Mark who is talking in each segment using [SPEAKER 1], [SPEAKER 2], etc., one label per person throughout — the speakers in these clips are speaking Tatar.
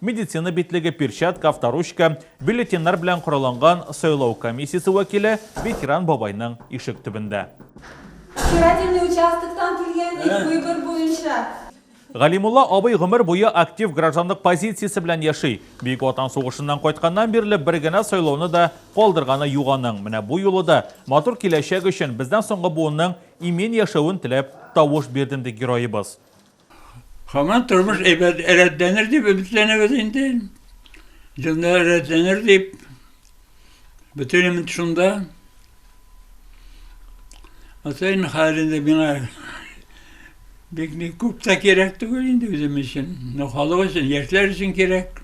[SPEAKER 1] медицина битлеге, перчатка, авторучка, бюллетеньнар белән коралланган сайлау комиссиясе вәкиле ветеран бабайның ишек төбендә. Избирательный участоктан килгән ик выбор буенча. Галимулла абый гомер буе актив гражданлык позициясе белән яши. Бөек Ватан сугышыннан кайтканнан бирле бер генә сайлауны да калдырганы юк аның. Менә бу юлы да матур киләчәк өчен, бездән соңгы буынның имин яшәвен теләп, тавыш бирдем, ди героебыз. Һаман тормыш әйбәт рәтләнер дип өметләнәбез инде. Дөнья рәтләнер дип бөтен өмет шунда. Атайын хәлендә миңа бик ни күп тә кирәк түгел инде үзем өчен. Но халык өчен, яшьләр өчен кирәк.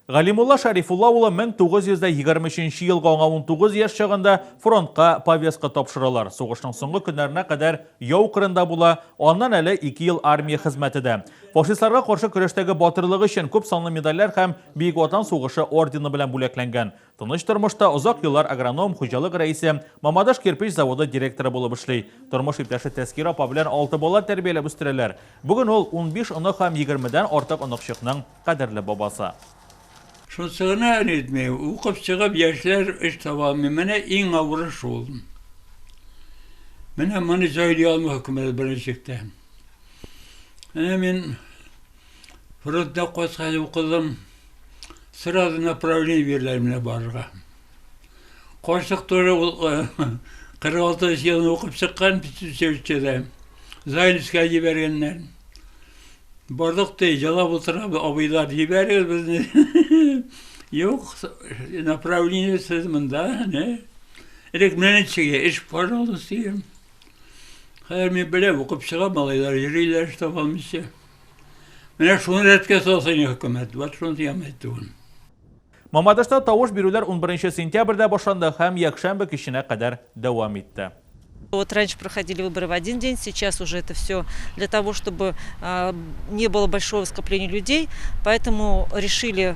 [SPEAKER 1] Галимулла Шәрифулла улы 1923 елгы аңа 19 яшь чагында фронтка повестка тапшыралар. Сугышның соңгы көннәренә кадәр яу кырында була, аннан әле ике ел армия хезмәте дә. Фашистларга каршы көрәштәге батырлыгы өчен күп санлы медальләр һәм Бөек Ватан сугышы ордены белән бүләкләнгән. Тыныч тормышта озак еллар агроном, хуҗалык рәисе, Мамадыш кирпич заводы директоры булып эшли. Тормыш иптәше Тәскир апа белән алты бала тәрбияләп үстерәләр. Бүген ул унбиш онык һәм егермедән артык оныкчыкның кадерле бабасы. Шунсы гына әле итми, укып чыгып, яшьләр эш таба алмый. Менә иң авыры шул. Менә моны җайлый алмый хөкүмәт беренче чиктә. Менә мин фронтта кайткач укыдым. сразу направление бирделәр менә барырга карчык тоже ул кырык алты елны укып чыккан училищеда зайльскә җибәргәннәр бардык ди җылап утыра абыйлар җибәрегез безне юк направление сез монда не элек менә ничек эш пожалуйста дигән хәзер мин беләм укып чыга малайлар йөриләр штаб алмыйча Менә шуны рәткә салсын хөкүмәт, вот шуны дигән әйтүен. Мамадышта тавыш бирүләр унберенче сентябрьдә башланды һәм якшәмбе киченә кадәр дәвам итте. Вот раньше проходили выборы в один день, сейчас уже это все для того, чтобы не было большого скопления людей, поэтому решили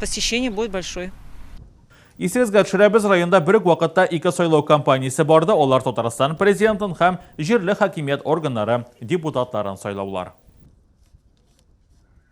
[SPEAKER 1] посещение будет большой. Исегезгә төшерәбез, районда бер үк вакытта ике сайлау кампаниясе барды, алар Татарстан Президентын һәм җирле хакимият органнары депутатларын сайлаулар.